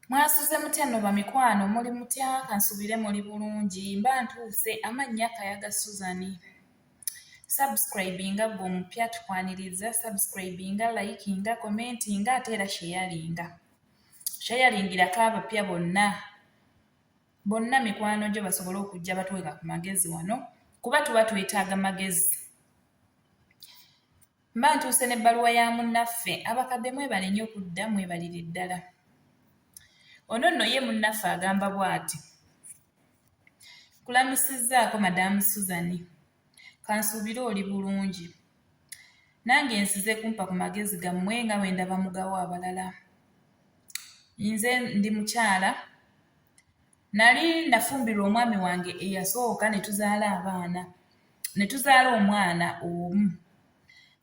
Mwasuze mutya nno bamikwano muli mutya kansubire muli bulungi mba ntuuse amannya Kayaga Susan subscribinga gwe omupya tukwaniriza subscribinga likinga commentinga ate era sheyalinga sheyalingirako abapya bonna bonna mikwano gyo basobole okujja batweka ku magezi wano kuba tuba twetaaga magezi Mba ntuuse n'ebbaluwa ya munnaffe. Abakadde mwebale nnyo kudda, mwebalire ddala. Ono nno ye munnaffe agamba bw'ati. Nkulamusizzaako Madaamu Suzani. Kansuubire oli bulungi. Nange nsize kumpa ku magezi gammwe nga bwe ndaba mugawa abalala. Nze ndi mukyala Nali nafumbirwa omwami wange eyasooka ne tuzaala abaana ne tuzaala omwana omu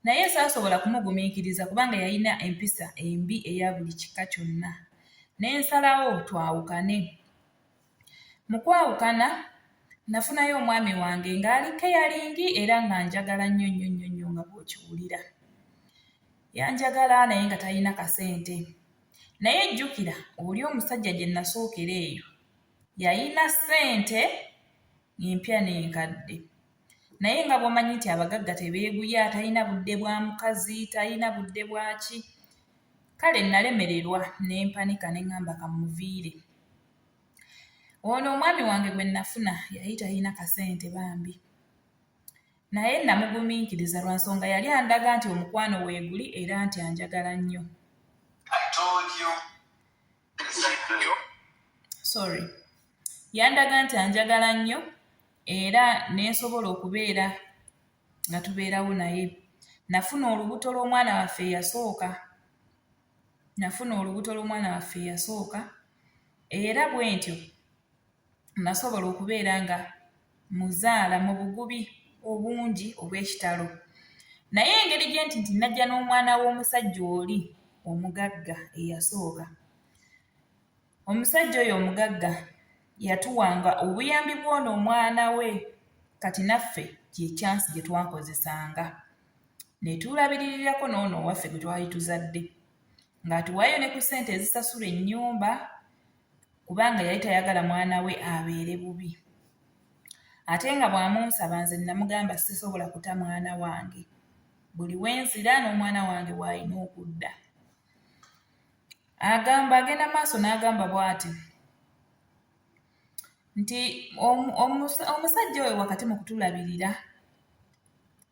naye saasobola kumugumiikiriza kubanga yalina empisa embi eya buli kika kyonna ne nsalawo twawukane. Mu kwawukana nafunayo omwami wange ng'ali keyalingi era nga njagala nnyo nnyo nnyo nnyo nga bw'okiwulira. Yanjagala naye nga talina kasente. naye jjukira oli omusajja gye nasookera eyo yalina ssente empya n'enkadde naye nga bw'omanyi nti abagagga tebeeguya talina budde bwa mukazi talina budde bwaki kale nalemererwa ne mpanika ne ŋŋamba kamuviire ono omwami wange gwe nafuna yali talina kasente bambi Naye nnamugumiikiriza lwa nsonga yali andaga nti omukwano weeguli era nti anjagala nnyo. Sorry. Yandaga nti anjagala nnyo era ne nsobola okubeera nga tubeerawo naye. Nafuna olubuto lw'omwana waffe eyasooka. Nafuna olubuto lw'omwana waffe eyasooka era bwe ntyo nnasobola okubeera nga muzaala mu bugubi obungi obw'ekitalo naye engeri gye nti nti najja n'omwana w'omusajja oli omugagga eyasooka omusajja oyo omugagga yatuwanga obuyambi bw'ono omwana we kati naffe kyekyansi gye twakozesanga ne tuulabiririrako n'ono owaffe gwe twali tuzadde ng'atuwaayo ne ku ssente ezisasula ennyumba kubanga yali tayagala mwana we abeere bubi ate nga bw'amunsaba nze namugamba sisobola kuta mwana wange buli we nzira n'omwana wange w'alina okudda agamba agenda maaso n'agamba bw'ati nti omusajja oyo wakati mu kutulabirira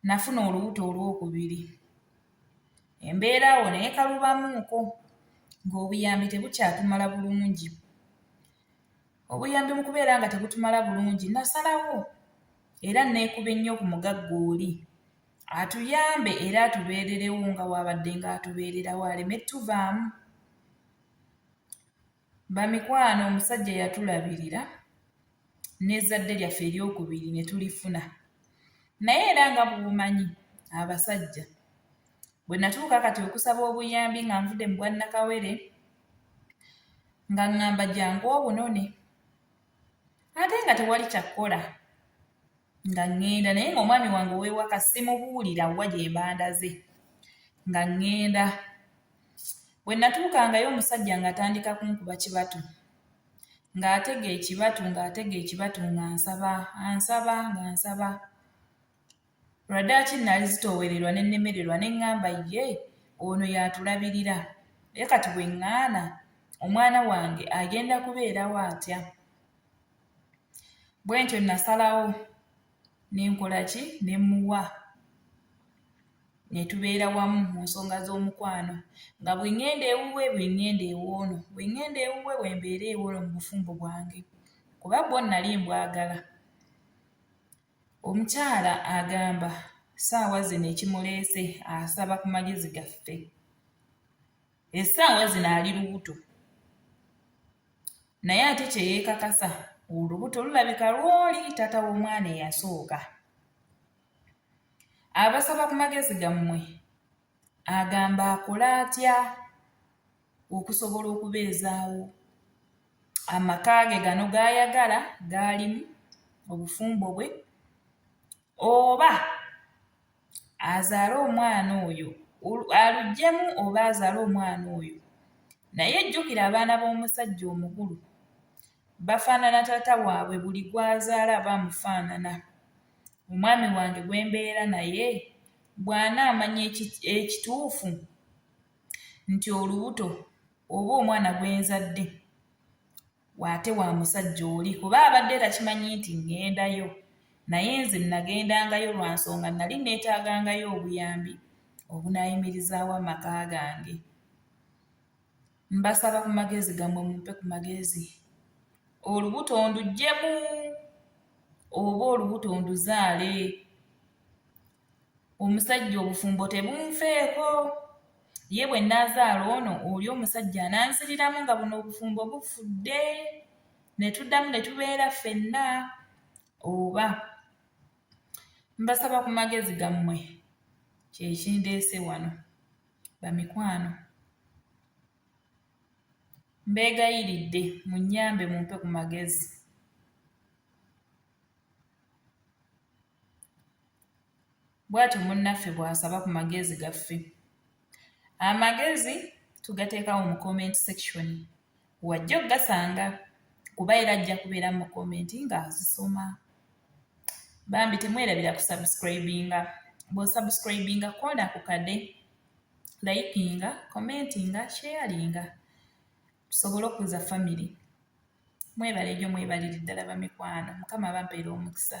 nafuna olubuto olwokubiri embeera awo naye kalubamuuko ng'obuyambi tebukyatumala bulungi obuyambi mu kubeera nga tebutumala bulungi nasalawo era neekuba ennyo ku mugagga oli atuyambe era atubeererewo nga waabadde ng'atubeererawo aleme tuvaamu Bamikwano omusajja yatulabirira n'ezzadde lyaffe eryokubiri ne tulifuna. Naye era nga bw'omanyi abasajja bwe natuuka kati okusaba obuyambi nga nvudde mu bwannakawere nga ŋŋamba jangu obunone ate nga tewali kyakkola nga ŋŋenda naye ng'omwami wange ow'ewaka simubuulira wa gye mbandaze nga ŋŋenda Bwe natuukangayo omusajja ng'atandika kunkuba kibatu ng'atega ekibatu ng'atega ekibatu ng'ansaba ansaba ng'ansaba lwadaaki nali zitoowererwa ne nnemererwa ne ŋŋamba ye ono y'atulabirira naye kati bwe ŋŋaana omwana wange agenda kubeerawo atya bwe ntyo nasalawo nenkola ki nemuwa netubeera wamu mu nsonga z'omukwano nga bwengenda ewuwe bwengenda ewoono bwengenda ewuwe wembeera ewoono mu bufumbo bwange kuba bwo nali mbwagala omukyala agamba saawa zino ekimuleese asaba ku magezi gaffe. essaawa zino ali lubuto naye ate kye yeekakasa olubuto lulabika lwoli taata w'omwana eyasooka abasaba ku magezi gammwe agamba akole atya okusobola okubeezaawo amaka ge gano g'ayagala gaalimu obufumbo bwe oba azaale omwana oyo aluggyemu oba azaale omwana oyo naye jjukira abaana b'omusajja omukulu bafaanana taata waabwe buli gw'azaala aba amufaanana omwami wange gwe mbeera naye bw'anaamanya ekituufu nti olubuto oba omwana gwe nzadde waate wa musajja oli kuba abadde takimanyi nti ŋŋendayo naye nze nnagendangayo lwa nsonga nnali nneetaagangayo obuyambi obunaayimirizaawo amaka gange mbasaba ku magezi gammwe mumpe ku magezi olubuto nduggyemu oba olubuto nduzaale omusajja obufumbo tebunfeeko ye bwe nnaazaala ono oli omusajja ananziriramu nga buno obufumbo bufudde ne tuddamu ne tubeera ffenna oba mbasaba ku magezi gammwe kyekindeese wano bamikwano mbeegayiridde munnyambe mumpe ku magezi bw'atyo munnaffe bw'asaba ku magezi gaffe. Amagezi tugateekawo mu comment section wajja okugasanga kuba era ajja kubeera mu comment ng'azisoma. Bambi temwerabira ku subscribinga bw'osubscribinga koona ku kade likinga commentinga sharinga tusobole okuza famire. mwebale nyo mwebalire ddala bamikwano mukama abampeere omukisa